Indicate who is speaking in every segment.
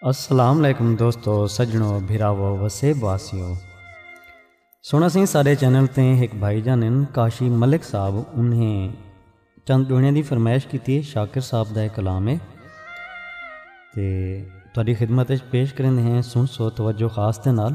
Speaker 1: السلام علیکم دوستو سجنو بھراو وسیب واسیو سونا سی سارے چینل تے ایک بھائی جان ہیں کاشی ملک صاحب انہیں چند ڈونے دی فرمائش کی تھی شاکر صاحب دا کلام ہے تے تاری خدمت پیش کریں ہیں سن سو توجہ خاص تے نال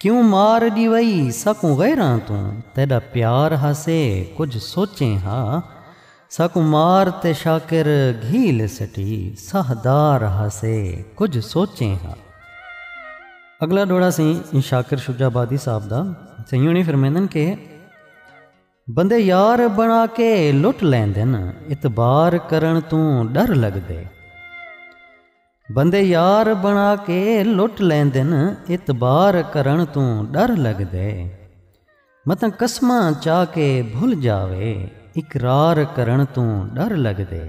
Speaker 1: کیوں مار ڈیوئی ساکوں غیراں توں تیڈا پیار ہاسے کجھ سوچیں ہا ساکوں مار تے شاکر گھیل سٹی ساہ دار ہاسے کجھ سوچیں ہا۔ اگلا ڈوڑا سیں شاکر شجاع آبادی صاحب دا سیں یوں نہیں فرمیندن کہ بندے یار بنا کے لٹ لیندن اتبار کرن توں ڈر لگ دے۔ بندے یار بݨا کے لٹ لیندن اعتبار کرݨ توں ݙر لڳدے متاں قسماں چا کے بھل جاوے اقرار کرݨ توں ݙر لڳدے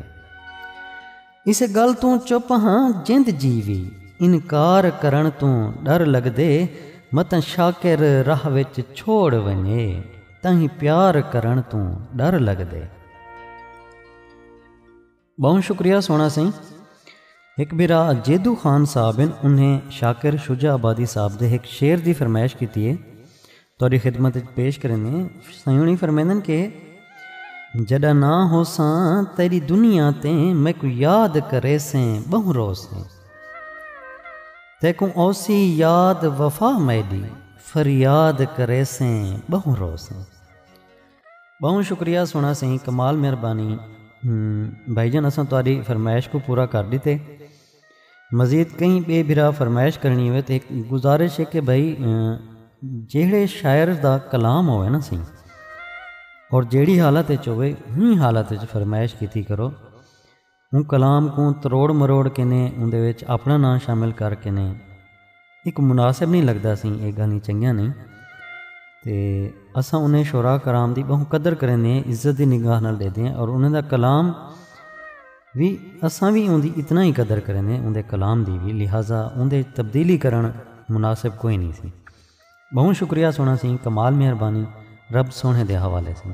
Speaker 1: اسے ڳالھ توں چپ ہاں جیند جی وی انکار کرݨ توں ݙر لڳدے متاں شاکر راہ وچ چھوڑ ونڄے تاں ہی پیار کرݨ توں ݙر لڳدے۔ بہوں شکریہ سونا سئیں ہک بھرا جیدو خان صاحب ہیں انہیں شاکر شجا آبادی صاحب دے ہک شعر دی فرمائش کیتی ہے توڑی خدمت پیش کرنے سیونی فرمیندن کہ جڑا نہ ہو ساں تیری دنیا تے میں کو یاد کرے سیں بہوں رو سیں تے کو اوسی یاد وفا میڈی فریاد کرے سیں بہوں رو سیں ٻہوں شکریہ سوہݨا سئیں کمال مہربانی بھائی جان اساں تہاݙی فرمائش کوں پورا کر ݙتے مزید کہیں ٻئے بھرا فرمائش کرݨی ہووے تاں ہک گزارش ہے کہ بھائی جیہڑے شاعر دا کلام ہووے نا سئیں اور جیہڑی حالت وچ ہووے ایں حالت وچ فرمائش کیتی کرو۔ اوں کلام کوں تروڑ مروڑ کنیں اوندے وچ اپݨا ناں شامل کر کنیں ہک مناسب نئیں لڳدا سئیں اے ڳالھیں چنڳیاں نئیں تے اساں انھیں شعراء کرام دی ٻہوں قدر کریندے ہیں عزت دی نگاہ نال ݙیدے ہیں اور انھیں دا کلام وی اساں وی اوندی اتنا ہی قدر کریندے ہیں اوندے کلام دی وی لہذا اوندے وچ تبدیلی کرݨ مناسب کوئی نئیں سئیں ٻہوں شکریہ سوہݨا سئیں کمال مہربانی رب سوہݨے دے حوالے سئیں۔